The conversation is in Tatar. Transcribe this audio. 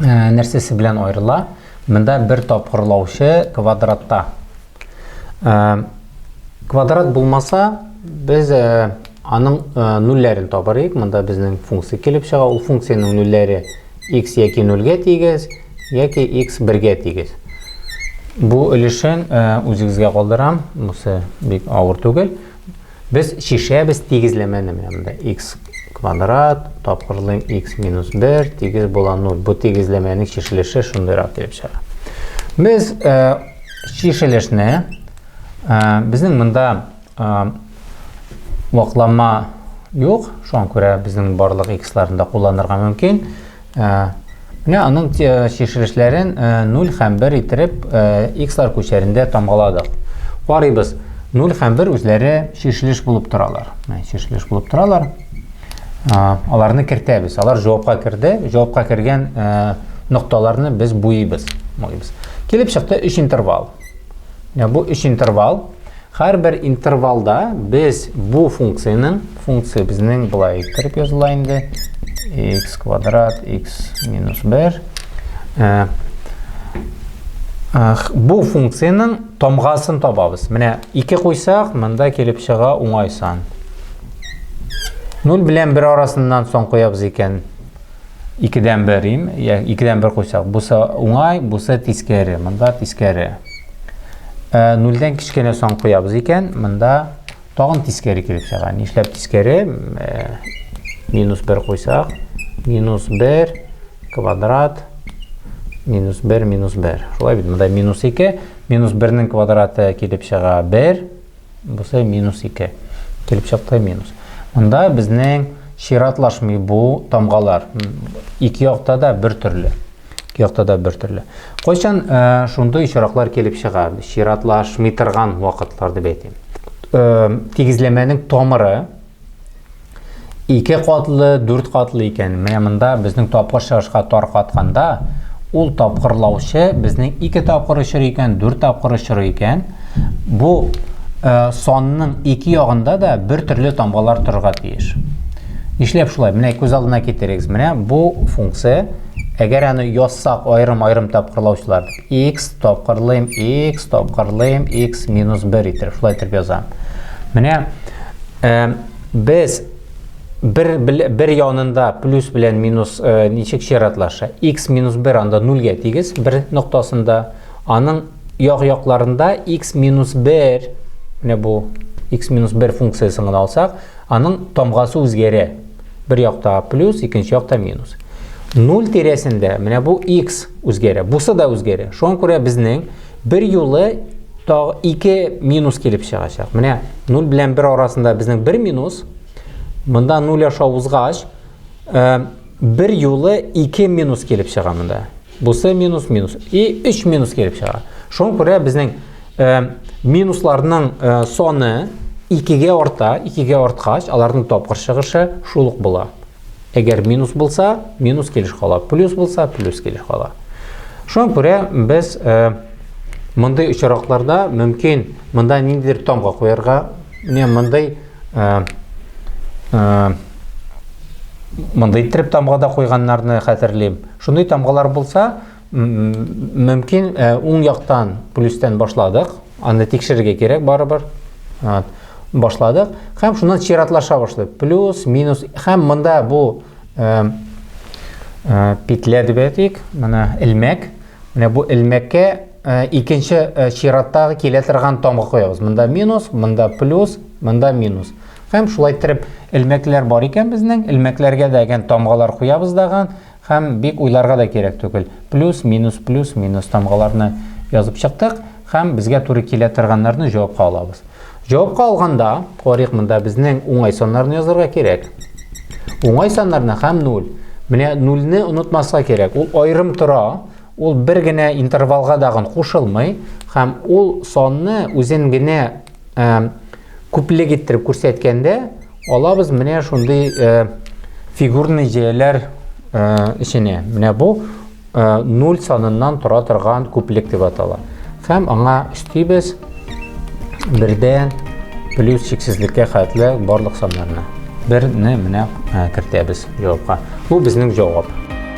ә, нәрсәсе белән аерыла? Монда бер тапкырлаучы квадратта. Ә, квадрат булмаса, без ә, аның ә, нульләрен табар идек. Монда безнең функция килеп чыга. Ул функциянең нульләре x яки 0-гә тигез, яки x 1-гә тигез. Бу өлешен ә, үзегезгә калдырам. Бусы бик авыр түгел. Без чишәбез тигезләмәне менә монда икс квадрат, тапкырлыйм икс минус бер, тигез була нуль. Бу тигезләмәнең чишелеше шундыйрак килеп чыга. Без чишелешне безнең монда ваклама юк, шуңа күрә безнең барлык иксларны да кулланырга мөмкин. Ә, менә аның чишелешләрен 0 һәм 1 иттереп x-лар күчәрендә тамгаладык. Карыйбыз, 0 һәм 1 үзләре чишелеш булып торалар. Менә чишелеш булып торалар. Аларны кертәбез. Алар җавапка керде. Җавапка кергән нокталарны без буйыбыз. Буйыбыз. Килеп чыкты 3 интервал. Бу өч интервал. Һәрбер интервалда без бу функцияның, функция безнең былай иттереп языла инде, x квадрат, x минус 1. Э, бу функцияның тамгасын табабыз. Менә 2 куйсак, монда килеп чыга уңай сан. 0 белән 1 арасыннан сон куябыз икән, Икедән бер им, я, икедән бер куйсак, бусы уңай, бусы тискәре. Монда тискәре. Ә, нульдән кечкенә сан куябыз икән, монда тагын тискәре килеп чыга. Нишләп тискәре? Ә, минус бер куйсак, минус бер квадрат, минус бер, минус бер. Шулай бит, монда минус ике, минус бернең квадраты килеп чыга бер. Бусы минус 2. Килеп чыкты минус. Монда безнең чиратлашмый бу тамгалар. Ике якта да бер төрле. Ике якта да бер төрле. Кайчан э, шундый очраклар килеп чыга? Чиратлашмый торган вакытлар дип әйтим. Э, тигезләмәнең тамыры Ике катлы, дүрт катлы икән. Менә монда безнең тапкыр чыгышка тар катканда, ул тапкырлаучы безнең ике тапкыр очыр икән, дүрт тапкыр очыр икән. Бу э, санның ике ягында да бер төрле тамгалар торырга тиеш. Нишләп шулай? Менә күз алдына китерегез. Менә бу функция Әгәр аны язсак аерым-аерым тапкырлаучылар, x тапкырлыйм, x тапкырлыйм, x минус 1 итеп, шулай итеп язам. Менә э, Без бер, бер янында плюс белән минус э, ничек чиратлаша? x минус 1 анда нульгә тигез, бер ноктасында. Аның як-якларында x минус 1, менә бу x минус 1 функциясен гына алсак, аның тамгасы үзгәрә. Бер якта плюс, икенче якта минус. 0 тирәсендә менә бу x үзгәрә, бусы да үзгәрә. Шуңа күрә безнең Бер юлы тагы ике минус килеп чыгачак. Менә 0 белән 1 арасында безнең бер минус. Монда 0 аша узгач, э, бер юлы ике минус килеп чыга монда. Бусы минус минус. И 3 минус килеп чыга. Шуңа күрә безнең э, минусларның э, соны 2 ге арта, 2 ге арткач, аларның тапкыр чыгышы шул ук була. Әгәр минус булса, минус килеш кала, плюс булса, плюс килеш кала. Шуңа күрә без э, мондый очракларда мөмкин монда ниндидер тамга куярга, менә мондый э, э, мондый иттереп тамгада куйганнарны хәтерлим. Шундый тамгалар булса, Мөмкин, э, уң яктан плюстән башладык, аны тикшерергә кирәк барыбер. Вот. Башладык һәм шуннан чиратлаша башлый. Плюс, минус һәм монда бу э, э, петля дип әйтик, менә элмәк. Менә бу элмәккә э, икенче э, чираттагы килә торган тамга куябыз. Монда минус, монда плюс, монда минус. Һәм шулай иттереп элмәкләр бар икән безнең, элмәкләргә дә әгән тамгалар куябыз даган, Һәм бик уйларга да кирәк түгел. Плюс, минус, плюс, минус тамгаларны язып чыктык һәм безгә туры килә торганнарны җавапка алабыз. Җавапка алганда, карыйк монда безнең уңай саннарны язырга кирәк. Уңай саннарны һәм 0. Менә 0-не онытмаска кирәк. Ул аерым тора, ул бер генә интервалга дагын кушылмый һәм ул санны үзен генә э, Күплек иттереп күрсәткәндә, алабыз менә шундый э, фигурный җәяләр эченә. Э, менә бу 0 э, саныннан тора торган күплек дип атала. Һәм аңа өстибез бердән плюс чиксезлеккә хәтле барлык саннарны. Берне менә кертәбез җавапка. Бу безнең җавап.